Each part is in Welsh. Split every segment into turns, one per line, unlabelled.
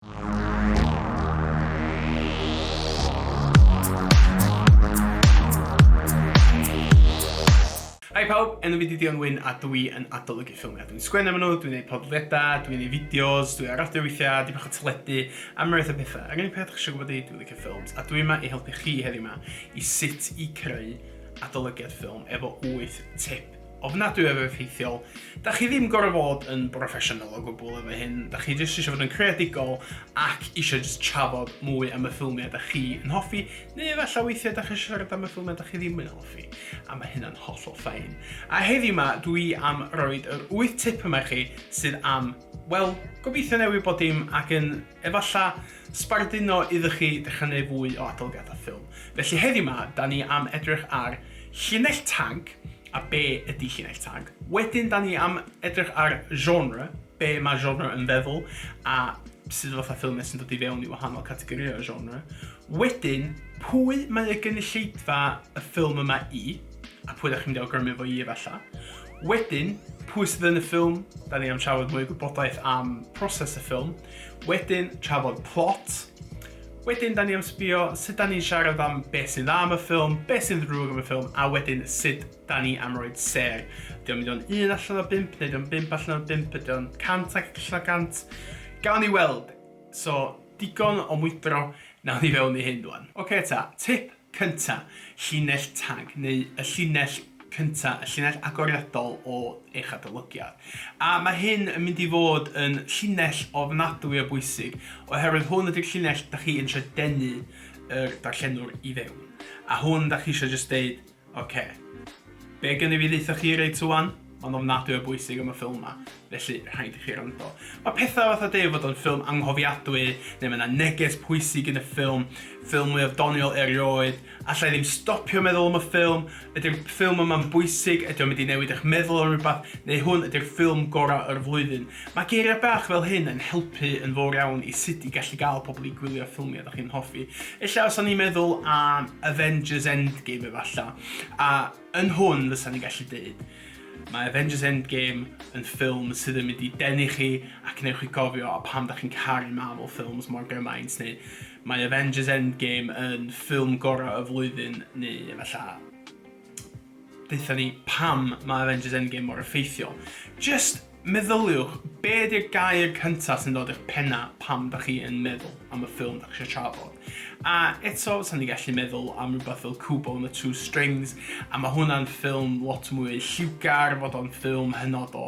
Hi pawb, enw fi 'di Dion Wyn a dw i yn adolygu ffilmiau. Dwi'n sgwennu am nhw, dwi'n gwneud podlediadau, dwi'n gwneud fideos, dwi ar radio weithiau, dipyn bach o teledu, am rywbeth o pethau. Yr unig peth dach chi eisiau gwybod i, dwi'n licio ffilms, a dwi yma i helpu chi heddiw yma i sut i creu adolygiad ffilm efo 8 tip. ofnadwy o effeithiol. Da chi ddim gorau fod yn broffesiynol o gwbl efo hyn, da chi jyst eisiau fod yn creadigol ac eisiau jyst trafod mwy am y ffilmiau da chi yn hoffi, neu efallai weithiau da chi eisiau siarad am y ffilmiau da chi ddim yn hoffi, a mae hynna'n hollol ffain. A heddiw ma, dwi am roed yr wyth tip yma i chi sydd am, wel, gobeithio newid bod dim ac yn Efalla sbarduno iddo chi ddechrau neu fwy o adolygiadau ffilm. Felly heddiw ma, da ni am edrych ar llinell tag a be ydy llinell tag. Wedyn da ni am edrych ar genre, be mae genre yn feddwl a sydd fatha ffilmau sy'n dod i fewn i wahanol categorïau genre. Wedyn, pwy mae y gynulleidfa y ffilm yma i a pwy da chi'n mynd i awgrymu fo i efalla. Wedyn, pwy sydd yn y ffilm? Da ni am trafod mwy o gwybodaeth am proses y ffilm. Wedyn, trafod plot. Wedyn, da ni am sbio sut da ni'n siarad am beth sy'n dda am y ffilm, beth sy'n ddrwg am y ffilm, a wedyn sut da ni am roed ser. Ydy o'n mynd o'n un allan o bimp, neu ydy o'n bimp allan o bimp, ydy o'n cant ac allan o gant? Gawn ni weld. So, digon o mwydro, nawn ni fewn i hyn dwan. Oce ta, tip cynta, llinell tag, neu y llinell cynta, y llinell agoriadol o eich adolygiad. A mae hyn yn mynd i fod yn llinell ofnadwy o bwysig, oherwydd hwn ydy'r llinell da chi yn eisiau denu yr darllenwr i fewn. A hwn da chi eisiau jyst deud, oce, Be gen i fi ddeitha chi reit ŵan? Mae'n ofnadwy o bwysig am y ffilm ma, felly rhaid i chi rando. Mae pethau fatha deud fod o'n ffilm anghofiadwy, neu mae yna neges pwysig yn y ffilm, ffilm mwyaf doniol erioed, alla i ddim stopio meddwl am y ffilm, ydy'r ffilm yma'n bwysig, ydy o'n mynd i newid eich meddwl am rhywbeth, neu hwn ydy'r ffilm gorau o'r flwyddyn. Mae geiriau bach fel hyn yn helpu yn fawr iawn i sut i gallu gael pobl i gwylio ffilmiau ydych chi'n hoffi. Ella os o'n i'n meddwl am Avengers Endgame efallai, A yn hwn fysan ni'n gallu deud, mae Avengers Endgame yn ffilm sydd yn mynd i denu chi a cneu chi gofio a pam da chi'n caru Marvel Films mor gymaint neu mae Avengers Endgame yn ffilm gorau y flwyddyn neu efallai ddeitha ni pam mae Avengers Endgame mor effeithiol. Just Meddyliwch, be ydy'r gair cyntaf sy'n dod i'ch penna pam da chi yn meddwl am y ffilm da chi eisiau trafod? A eto, sa'n ni gallu meddwl am rhywbeth fel Kubo and the Two Strings, a mae hwnna'n ffilm lot mwy lliwgar, fod o'n ffilm hynod o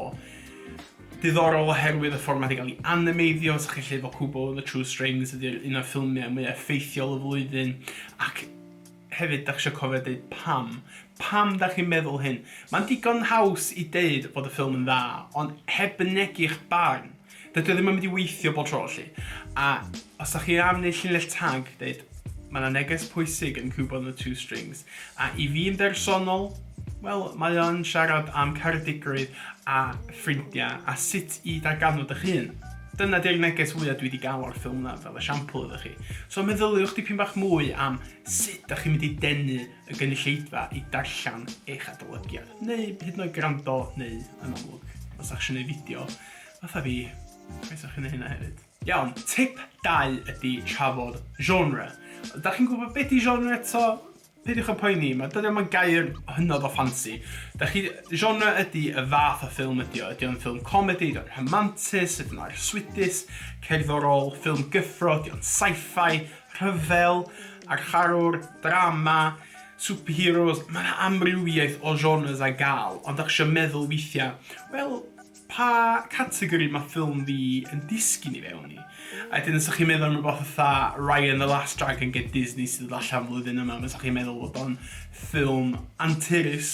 diddorol oherwydd y ffordd mae wedi cael ei animeiddio, sa'ch chi'n lle fod Kubo and the Two Strings ydy'r un o'r ffilmiau mwy effeithiol y flwyddyn, ac Hefyd, dach chi isio cofio deud pam. Pam dach chi'n meddwl hyn? Mae'n digon haws i deud bod y ffilm yn dda, ond heb fynegi'ch barn, dydy o ddim yn mynd i weithio bob tro, felly. A os dach chi am wneud llinell tag, deud, mae yna neges pwysig yn Cuba on the Two Strings, a i fi yn bersonol, wel, mae o'n siarad am caredigrwydd a ffrindiau a sut i darganfod eich hun. Dyna di'r neges fwyaf dwi wedi gael o'r ffilm yna, fel esiampl iddo chi. So meddyliwch dipyn bach mwy am Sut dach chi'n mynd i denu y gynulleidfa i darllen eich adolygiad, neu hyd yn oed gwrando, neu yn amlwg, os dach chi'n ei fideo, fatha fi, croeso chi'n ei hynna hefyd. Iawn, tip dau ydi trafod genre. Dach chi'n gwybod beth di genre eto? Peidiwch â poeni, mae dyna mae'n gair hynod o ffansi. Dach chi, genre ydi y fath o ffilm ydi o, ydi o'n ffilm comedi, ydi o'n rhamantus, ydi o'n arswydus, cerddorol, ffilm gyffro, ydi o'n sci-fi, rhyfel, a'r harwr, drama, superheroes, mae yna amrywiaeth o genres ar gael, ond dach eisiau meddwl weithiau, wel, pa categori mae ffilm fi yn disgyn i fewn i? A wedyn os ydych chi'n meddwl am rhywbeth fatha Raya and the Last Dragon gen Disney sydd yn allan flwyddyn yma, fysa chi'n meddwl bod o'n ffilm anturus,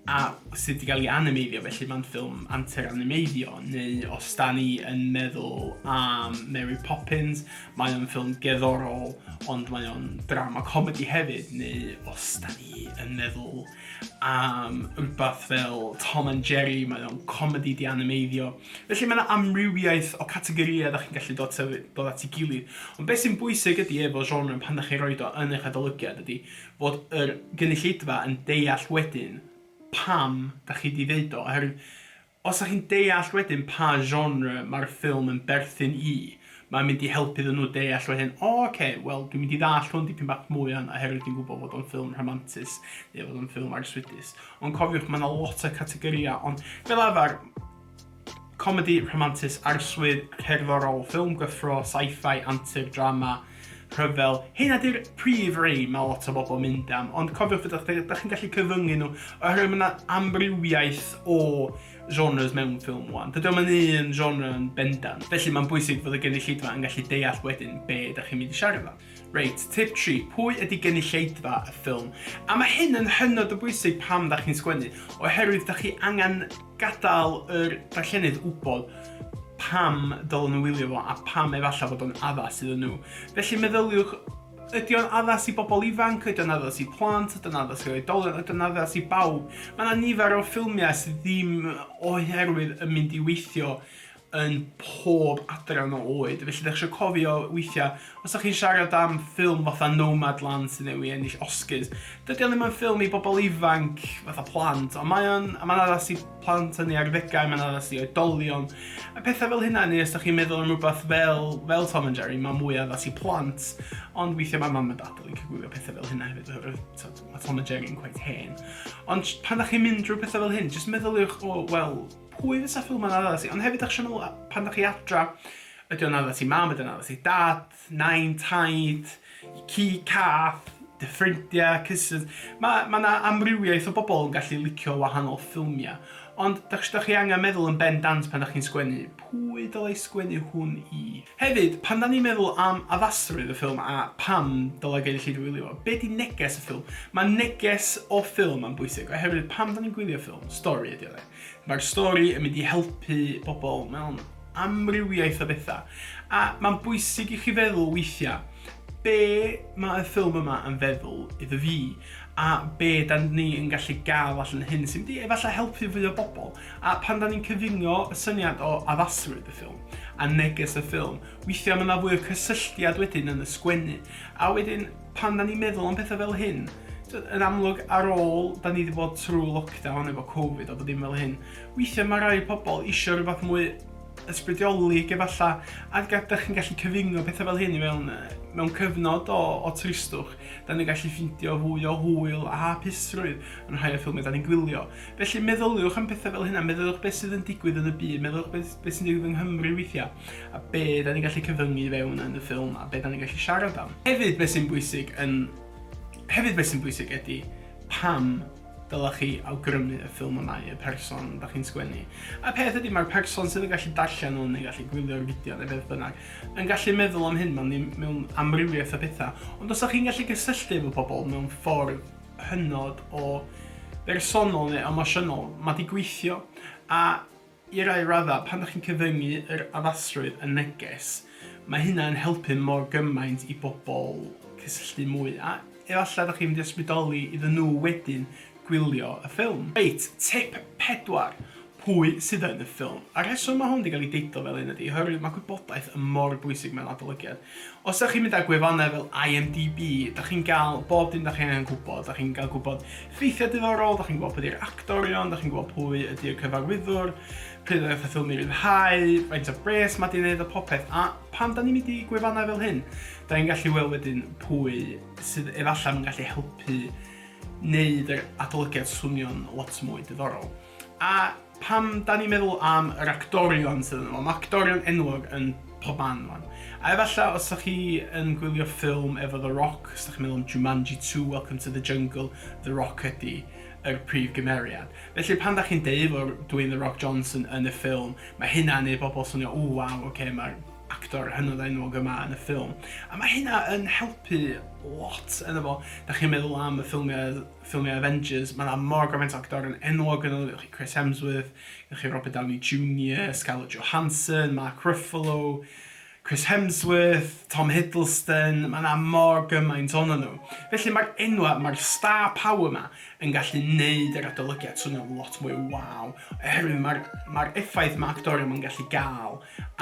a sydd wedi cael ei animeiddio, felly mae'n ffilm antur animeiddio, neu os da ni yn meddwl am Mary Poppins, mae o'n ffilm geddorol, ond mae o'n drama comedi hefyd, neu os da ni yn meddwl am rhywbeth fel Tom and Jerry, mae o'n comedi di animeiddio. Felly mae yna amrywiaeth o categoriau da chi'n gallu dod, dod at ei gilydd. Ond beth sy'n bwysig ydy efo genre pan da chi'n rhoi do yn eich adolygiad ydy, fod yr gynulleidfa yn deall wedyn pam da chi di ddeud o, oherwydd os da chi'n deall wedyn pa genre ma'r ffilm yn berthyn i, mae'n mynd i helpu iddyn nhw deall wedyn, o oce, wel dwi'n mynd i ddallt hwn dipyn bach mwy wan oherwydd dwi'n gwybod fod o'n ffilm rhamantus neu fod o'n ffilm arswydus. Ond cofiwch, mae yna lot o categoria, ond fel arfer, Comedi rhamantus arswyd, cerddorol, ffilm gyffro, sci-fi, antur, drama, rhyfel. Heina 'di'r prif rei mae lot o bobl yn mynd am, ond cofiwch fod chi, da chi'n gallu cyfyngu nhw oherwydd mae yna amrywiaeth o genres mewn ffilm wan. Dydy o'm yn un genre yn bendant, felly mae'n bwysig fod y gynulleidfa yn gallu deall wedyn be da chi'n mynd i siarad am. Reit, tip tri, pwy ydi gynulleidfa y ffilm? A mae hyn yn hynod o bwysig pam da chi'n sgwennu, oherwydd da chi angen gadael yr darllenydd wybod pam dylen nhw wylio fo a pam efallai fod o'n addas iddyn nhw. Felly meddyliwch Ydy o'n addas i bobl ifanc? Ydy o'n addas i plant? Ydy o'n addas i oedolion? Ydy o'n addas i bawb? Mae yna nifer o ffilmiau sydd ddim oherwydd yn mynd i weithio yn pob adran o oed, felly dach chi isio cofio weithiau, os dach chi'n siarad am ffilm fatha Nomadland sydd newydd ennill Oscars, dydy o ddim yn ffilm i bobl ifanc fatha plant, ond mae o'n, a mae'n addas i plant yn ei arddegau, mae'n addas i oedolion, a pethau fel hynna, neu os dach chi'n meddwl am rhywbeth fel, fel Tom and Jerry, mae'n mwy addas i plant, ond weithiau mae mam a dad yn licio gwylio pethau fel hynna hefyd, oherwydd mae Tom and Jerry'n quite hen. Ond pan dach chi'n mynd drwy pethau fel hyn, jyst meddyliwch, o, wel, Pwy fysa ffilm yn addas i? Ond hefyd, dach chi eisiau meddwl, a- pan dach chi adra, ydy o'n addas i mam, ydy o'n addas i dad, nain, taid, i ci, cath, dy ffrindiau, cousins. Mae ma 'na amrywiaeth o bobl yn gallu licio wahanol ffilmiau. Ond dach chi, dach chi angen meddwl yn ben dant pan dach chi'n sgwennu, pwy dylai sgwennu hwn i? Hefyd, pan da ni'n meddwl am addasrwydd y ffilm a pam dylai gynulleidfa wylio fo, be di neges y ffilm? Mae neges o ffilm yn bwysig, oherwydd pam da ni'n gwylio ffilm? Stori ydy o, de? Mae'r stori yn mynd i helpu pobl mewn amrywiaeth o bethau. A mae'n bwysig i chi feddwl weithiau, be mae y ffilm yma yn feddwl iddo fi? A be da ni yn gallu gael allan hyn sy'n mynd i efallai helpu fwy o bobl? A pan da ni'n cyfungo y syniad o addasrwydd y ffilm a neges y ffilm, weithiau mae yna fwy o cysylltiad wedyn yn y sgwennu. A wedyn, Pan da ni'n meddwl am pethau fel hyn, yn amlwg ar ôl da ni wedi bod trwy lockdown efo Covid a bod dim fel hyn, weithiau mae rai pobl eisiau rhywbeth mwy ysbrydiolig efalla, a ydych chi'n gallu cyfungo pethau fel hyn i mewn, mewn cyfnod o, o tristwch, da ni'n gallu ffindio fwy o hwyl a hapusrwydd yn rhai o'r ffilmiau da ni'n gwylio. Felly meddyliwch am pethau fel hynna, meddyliwch beth sydd yn digwydd yn y byd, meddyliwch beth, beth sy'n digwydd yng Nghymru weithiau. a be da ni'n gallu cyfyngu i fewn yn y ffilm, a be da ni'n gallu siarad am. Hefyd beth sy'n bwysig yn... Hefyd beth sy'n bwysig ydy pam dylech chi awgrymu y ffilm y mae y person da chi'n sgwennu. A peth ydy, mae'r person sydd yn gallu darllen hwn neu gallu gwylio'r fideo neu beth bynnag yn gallu meddwl am hyn mewn, mewn amrywiaeth o bethau. Ond os ydych chi'n gallu gysylltu efo pobl mewn ffordd hynod o bersonol neu emosiynol, mae di gweithio. A I rai raddau, pan dach chi'n cyfyngu yr addasrwydd yn neges, mae hynna yn helpu mor gymaint i bobl cysylltu mwy, a efallai dach chi'n mynd i ysbrydoli iddyn nhw wedyn gwylio y ffilm. Reit, tip pedwar, pwy sydd yn y ffilm? Y rheswm mae hwn 'di gael ei deitlo fel hyn ydy oherwydd mae gwybodaeth yn mor bwysig mewn adolygiad. Os dach chi'n mynd ar gwefannau fel IMDb, dach chi'n gael bob dim dach chi'n angen gwybod. Dach chi'n gael gwybod ffeithiau diddorol, dach chi'n gwybod pwy ydy'r actorion, dach chi'n gwybod pwy ydy'r cyfarwyddwr, pryd oedd y ffilm i ryddhau, faint o bres mae di'n neud a popeth. A pan da ni'n mynd i gwefannau fel hyn, da ni'n gallu weld wedyn pwy sydd efallai yn gallu helpu wneud yr adolygiad swnio'n lot mwy diddorol. A pam 'da ni'n meddwl am yr actorion sydd yno fo? Mae actorion enwog yn pob man rwan. A efallai os ydych chi yn gwylio ffilm efo The Rock, os ydych chi'n meddwl am Jumanji 2, Welcome to the Jungle, The Rock ydy yr prif gymeriad. Felly pan da chi'n deud fod Dwayne The Rock Johnson yn y ffilm, mae hynna'n neud bobl swnio, o waw, oce, mae'r actor hynod enwog yma yn y ffilm. A mae hynna yn helpu lot, yna fo, da chi'n meddwl am y ffilmiau ffilmiau Avengers, mae 'na mor gymaint o actorion enwog yno, gyda chi Chris Hemsworth, gyda chi Robert Downey Junior, Scarlett Johansson, Mark Ruffalo, Chris Hemsworth, Tom Hiddleston, mae yna mor gymaint o'n nhw. Felly mae'r enwa, mae'r star power yma yn gallu neud yr adolygiad swnio'n lot mwy waw, oherwydd mae'r mae effaith mae actorion yn gallu gael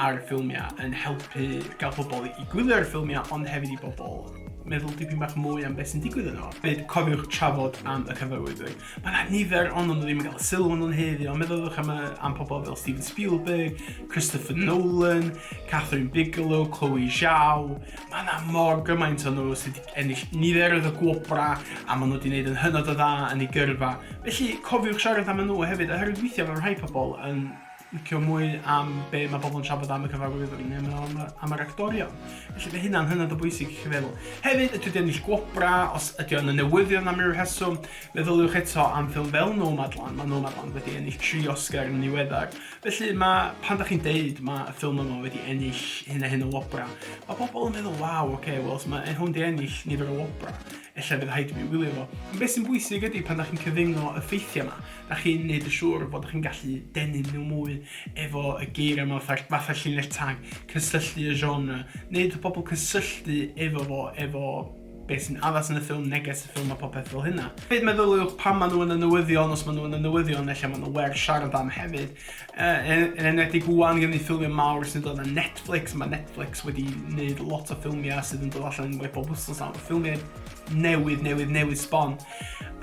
ar ffilmiau yn helpu gael pobl i gwylio ar ffilmiau ond hefyd i bobl meddwl dipyn bach mwy am beth sy'n digwydd yno. Fyd cofiwch trafod am y cyfarwyddwyr. Mae yna nifer ond ond ddim yn cael y sylw ond ond heddi ond meddylwch am, am pobl fel Steven Spielberg, Christopher Nolan, Catherine Bigelow, Chloe Zhao. Mae yna mor gymaint o'n nhw sydd wedi ennill niferoedd o gwobra a maen nhw wedi gwneud yn hynod o dda yn ei gyrfa. Felly cofiwch siarad am nhw hefyd oherwydd weithiau mae rhai pobl yn licio mwy am be mae pobl yn trafod am y cyfarwyddwr yn neu am, am yr actorion. Felly fe hynna'n hynod o bwysig i chi feddwl. Hefyd, ydy wedi ennill gwobra, os ydy o'n y newyddion am ryw rheswm, meddyliwch eto am ffilm fel Nomadland. Mae Nomadland wedi ennill tri Oscar yn niweddar. Felly mae, pan da chi'n deud mae y ffilm yma wedi ennill hyn a hyn o wobra, mae pobl yn meddwl, waw, oce, okay, wel, mae e hwn wedi ennill nifer o wobra, efallai bydd rhaid i mi wylio fo. Ond beth sy'n bwysig ydy pan da chi'n cyfyngo y ffeithiau yma, Dach chi'n neud yn siŵr bod chi'n gallu denu nhw mwy efo y geiriau yma fatha, fatha llinell tag, cysylltu y genre, neud y pobl cysylltu efo fo, efo beth sy'n addas yn y ffilm, neges y ffilm a popeth fel hynna. Hefyd meddyliwch pan maen nhw yn y newyddion, os maen nhw yn y newyddion, efallai maen nhw werth siarad am hefyd. Uh, yn, yn enwedig wwan gen i ffilmiau mawr sy'n dod ar Netflix, mae Netflix wedi gwneud lot o ffilmiau sydd yn dod allan yn wedi bob wythnos nawr, ffilmiau newydd, newydd, newydd sbon.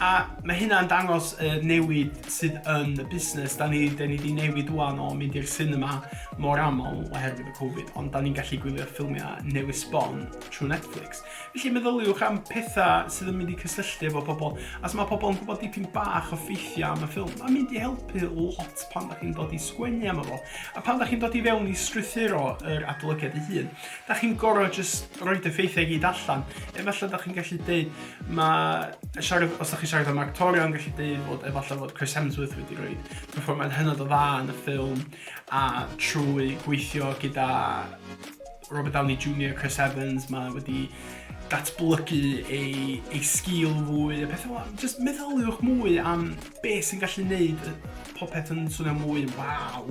A mae hynna'n dangos y newid sydd yn y busnes. Da ni, da ni wedi newid wwan o mynd i'r cinema mor aml oherwydd y Covid, ond da ni'n gallu gwylio ffilmiau newydd sbon trwy Netflix. Felly meddyliwch am pethau sydd yn mynd i cysylltu efo pobl. As mae pobl yn gwybod dipyn bach o ffeithiau am y ffilm, mae'n mynd i helpu lot pan da chi'n dod i sgwennu am efo. A pan da chi'n dod i fewn i strwythuro yr adolygiad ei hun. Da chi'n gorau jyst roed y ffeithiau gyd allan. Efallai da chi'n gallu dweud, mae siarad, os da chi'n siarad am actorio, yn gallu dweud fod efallai fod Chris Hemsworth wedi rhoi performance hynod o dda yn y ffilm, a trwy gweithio gyda Robert Downey Jr, Chris Evans, mae wedi datblygu ei, ei sgil fwy a pethau fel Just meddyliwch mwy am beth sy'n gallu neud popeth yn swnio mwy waw.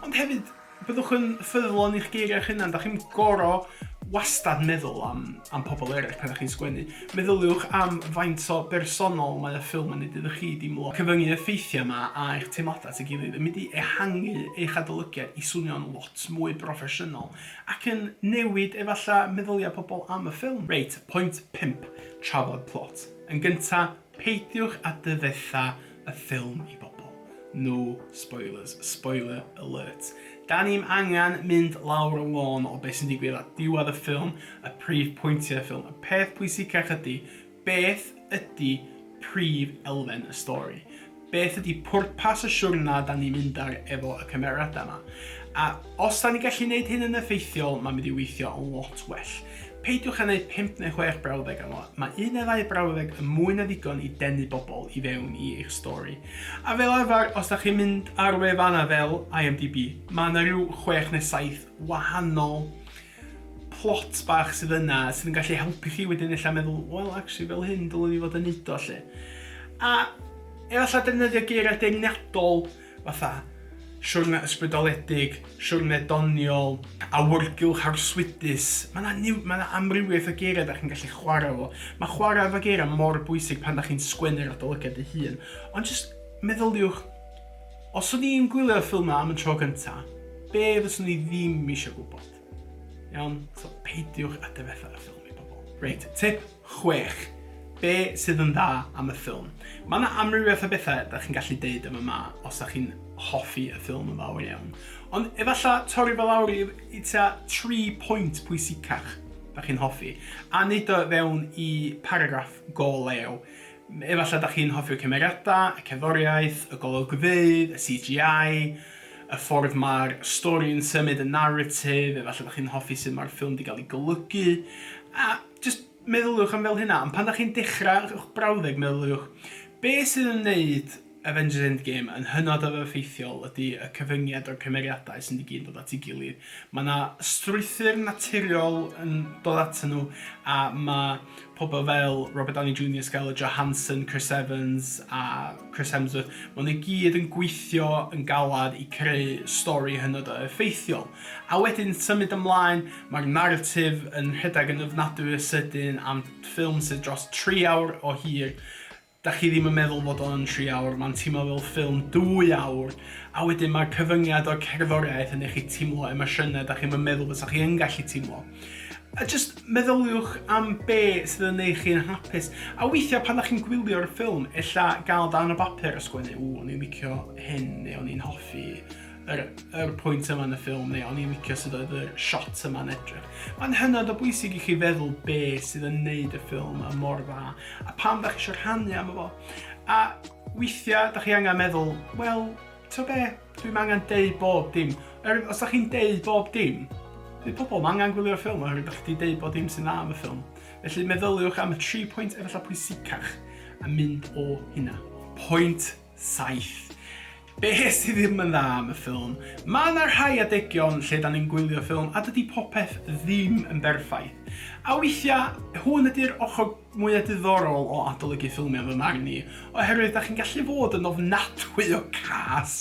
Ond hefyd, Byddwch yn ffyddlon i'ch geiriau eich hunan. Dach chi'n goro wastad meddwl am, am pobl eraill pan ydych chi'n sgwennu. Meddyliwch am faint o bersonol mae y ffilm yn ei iddo chi deimlo. Cyfyngu y ffeithiau yma a eich teimladau at ei gilydd yn mynd i ehangu eich adolygiad i swnio'n lot mwy broffesiynol ac yn newid efallai meddyliau pobl am y ffilm. Reit, pwynt pump, trafod plot. Yn gyntaf, Peidiwch â dyfetha y ffilm i bobl. No spoilers. Spoiler alert. Da ni'm angen mynd lawr y lôn o beth sy'n digwydd at diwedd y ffilm, y prif pwyntiau y ffilm. Y peth pwysicach ydy, beth ydy prif elfen y stori? Beth ydi pwrpas y siwrna da ni'n mynd ar efo y cymeriadau yma? A os da ni'n gallu neud hyn yn effeithiol, mae'n mynd i weithio yn lot well. Peidiwch â neud pump neu chwech brawddeg am o, mae un neu ddau brawddeg yn mwy na ddigon i denu bobl i fewn i eich stori. A fel arfer, os da chi'n mynd ar wefannau fel IMDb, mae yna rhyw chwech neu saith wahanol plot bach sydd yna sydd yn gallu helpu chi wedyn ella meddwl, wel, actually, fel hyn dylwn i fod yn neud o, lle. A efallai defnyddio geiriau deyrniadol fatha siwrne ysbrydoledig, siwrne doniol, awyrgylch arswydus. Mae yna ma amrywiaeth o geiriau da chi'n gallu chwarae fo. Mae chwarae efo geiriau mor bwysig pan da chi'n sgwennu'r adolygiad ei hun. Ond jyst meddyliwch Os o'n i'n gwylio'r ffilm 'na am y tro gynta, be' fyswn i ddim isio gwbod? Iawn? So, peidiwch â difetha y ffilm i bobl. Reit, tip chwech. Be' sydd yn dda am y ffilm? Ma' 'na amrywiaeth o bethe 'dach chi'n gallu deud am y ma os 'dach chi'n hoffi y ffilm yn fawr iawn. Ond efalla torri fo lawr i i tua tri pwynt pwysicach 'dach chi'n hoffi, a neud o fewn i paragraff go lew. Efallai dach chi'n hoffi'r cymeriadau, y cerddoriaeth, y golygfeydd, y CGI, y ffordd mae'r stori yn symud, y naratif, efallai dach chi'n hoffi sut mae'r ffilm 'di gael ei golygu, a jyst meddyliwch am fel hynna, ond pan dach chi'n dechrau eich brawddeg meddyliwch, be sydd yn wneud Avengers Endgame yn hynod o effeithiol ydy y cyfyngiad o'r cymeriadau sydd i gyd yn dod at ei gilydd. Mae yna strwythur naturiol yn dod atyn nhw a mae pobl fel Robert Downey Junior, Scarlett Johansson, Chris Evans a Chris Hemsworth, maen nhw i gyd yn gweithio yn galed i creu stori hynod o effeithiol. A wedyn symud ymlaen, mae'r naratif yn rhedeg yn ofnadwy o sydyn am ffilm sydd dros tri awr o hir, Dach chi ddim yn meddwl bod o yn tri awr, ma'n teimlo fel ffilm dwy awr, a wedyn ma'r cyfyngiad o'r cerddoriaeth yn neu' chi teimlo emosiyne dach chi'm yn meddwl bysa chi yn gallu teimlo. A jyst meddyliwch am be' sydd yn neu' chi yn hapus, a weithia' pan dach chi'n gwylio'r ffilm ella ga'l darn o bapur a sgwennu 'ww o'n i'n licio hyn' neu 'o'n i'n hoffi yr, yr pwynt yma yn y ffilm, neu o'n i'n licio sydd oedd y shot yma'n edrych. Mae'n hynod o bwysig i chi feddwl be sydd yn neud y ffilm a mor dda, a pam da chi eisiau rhannu am efo. A weithiau, da chi angen meddwl, wel, to be, dwi'n angen deud bob dim. Er, os da chi'n deud bob dim, Nid pobl mae angen gwylio'r ffilm oherwydd ydych chi wedi deud bod dim sy'n dda am y ffilm. Felly meddyliwch am y tri pwynt efallai pwysicach a mynd o hynna. Pwynt 7. Be sydd ddim yn dda am y ffilm? Mae 'na rhai adegion lle 'dan ni'n gwylio ffilm a dydi popeth ddim yn berffaith. A weithia', hwn ydi'r ochr mwya' diddorol o adolygu ffilmia' fy marn i, oherwydd 'dach chi'n gallu fod yn ofnadwy o gas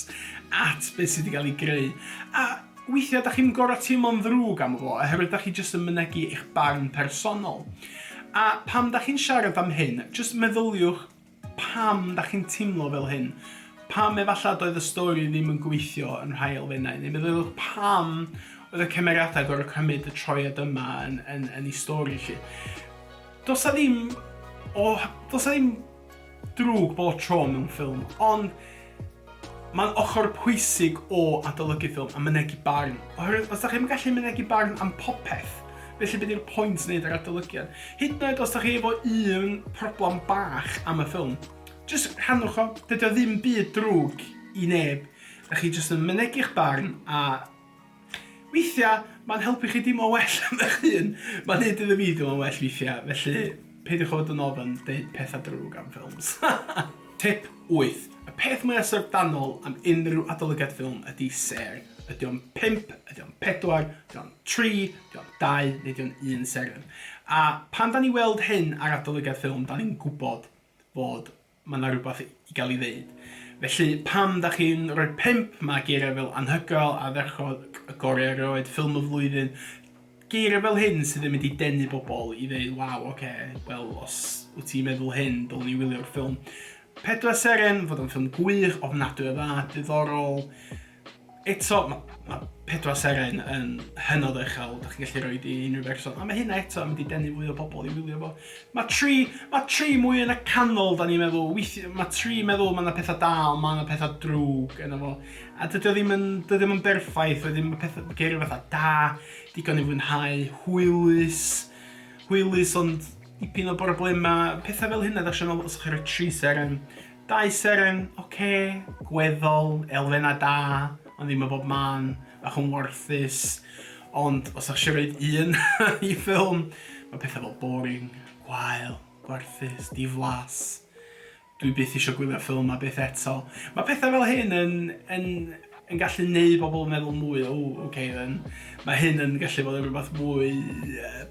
at be' sy' 'di ga'l 'i greu, a weithia' 'dach chi'm gor'o' teimlo'n ddrwg am fo, oherwydd 'dach chi jyst yn mynegi eich barn personol. A pam 'dach chi'n siarad am hyn, jyst meddyliwch Pam da chi'n timlo fel hyn? Pam efalla doedd y stori ddim yn gweithio yn rhai elfennau? Neu meddyliwch pam oedd y cymeriadau gorau cymryd y troiad yma yn, yn, yn ei stori chi? Does ddim o... Does ddim drwg bob tro mewn ffilm, ond Mae'n ochr pwysig o adolygu ffilm a mynegi barn, oherwydd os dach chi'm yn gallu mynegi barn am popeth, felly be di'r pwynt wneud yr adolygiad? Hyd yn oed os dach chi efo un problem bach am y ffilm, jyst rhannwch o, dydi o ddim byd drwg i neb, dach chi jyst yn mynegi'ch barn a Weithiau, mae'n helpu chi deimlo'n well am eich hun. Mae'n neud iddo fi deimlo'n well weithiau, felly peidiwch â bod yn ofn deud pethau drwg am ffilms. Tip 8. Y peth mwyaf syfrdanol am unrhyw adolygiad ffilm ydi sêr. Ydi o'n pump, ydi o'n pedwar, ydi o'n tri, ydi o'n dau, neu ydi o'n un seren? A pan 'dan ni'n weld hyn ar adolygiad ffilm, 'dan ni'n gwbod fod Mae 'na rywbeth i gael ei ddeud. Felly, pam da chi'n rhoi pump? Mae geiriau fel anhygoel, ardderchog, y gorau erioed, ffilm y flwyddyn, geiriau fel hyn sydd yn mynd i denu bobl i ddeud, waw, oce, okay, wel, os wyt ti'n meddwl hyn, dylwn ni wylio'r ffilm. Pedwar Seren, fod o'n ffilm gwych, ofnadwy o dda, diddorol, Eto, mae ma pedwar seren yn hynod o uchel, da chi'n gallu rhoi di unrhyw berson, a mae hynna eto yn mynd i denu fwy o bobl i wylio fo. Mae tri, mae tri mwy yn y canol, da ni'n meddwl, weithio, mae tri meddwl mae yna pethau da, ond mae yna pethau drwg yna fo. A dydy o ddim yn, dydy ddim yn berffaith, wedyn mae pethau, geiriau fatha da, digon i fwynhau, hwylus, hwylus ond dipyn o broblemau, pethau fel hynna, da chi'n meddwl, os ydych chi'n rhoi tri seren, Dau seren, ok, gweddol, elfennau da, ond ddim yn bob man, bach yn warthus, ond os o'ch eisiau roed un i ffilm, mae pethau fel boring, gwael, gwarthus, diflas, dwi byth eisiau gwylio ffilm 'ma byth eto. Mae pethau fel hyn yn yn yn gallu gwneud pobl meddwl mwy o ww ok then mae hyn yn gallu bod yn rhywbeth mwy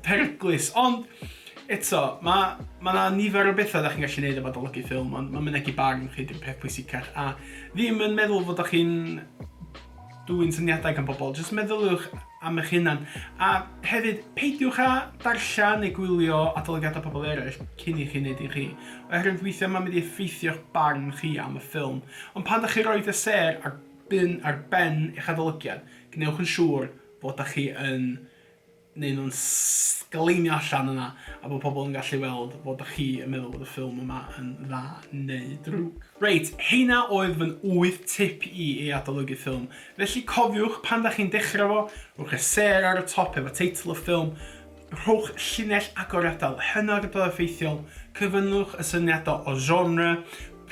peryglus ond eto mae mae yna nifer o bethau da chi'n gallu gwneud efo adolygu ffilm ond mae mynegi barn chi di'r peth pwysicach a ddim yn meddwl fod ych chi'n dwy'n syniadau gan pobl, jyst meddyliwch am eich hunan. A hefyd, peidiwch â darllen neu gwylio adolygiadau pobl eraill cyn i chi wneud un chi, oherwydd weithiau mae'n mynd i effeithio'ch barn chi am y ffilm. Ond pan dach chi'n rhoi dy sêr ar bin ar ben eich adolygiad, gwnewch yn siŵr fod dach chi yn neud nhw'n sgleinio allan yna a bod pobl yn gallu weld fod dach chi yn meddwl bod y ffilm yma yn dda neu drwg. Reit, heina oedd fy wyth tip i i adolygu ffilm. Felly cofiwch, pan dach chi'n dechrau fo, rhowch y sêr ar y top efo teitl y ffilm, Rhowch llinell agor adael hynna ar y ble effeithiol, cyfyngwch y syniadau o genre,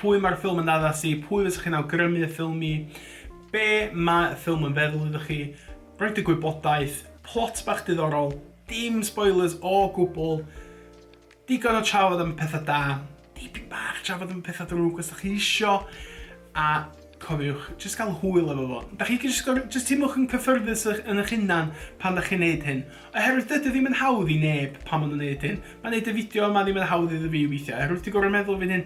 pwy mae'r ffilm yn addas i, pwy fysech chi'n awgrymu y ffilm i, be mae y ffilm yn feddwl iddo chi, roed y gwybodaeth, plot bach diddorol, dim spoilers o gwbl, Digon o trafod am y pethau da, dipyn bach trafod am y pethau drwg os da chi isio, a cofiwch, jyst gael hwyl efo fo. Da chi jyst gorfod, jyst teimlwch yn cyffyrddus yn eich hunan pan da chi'n neud hyn. Oherwydd dydy o ddim yn hawdd i neb pan maen nhw'n neud hyn. Mae neud y fideo yma ddim yn hawdd iddo fi weithiau, oherwydd dwi'n gorfod meddwl fy hun,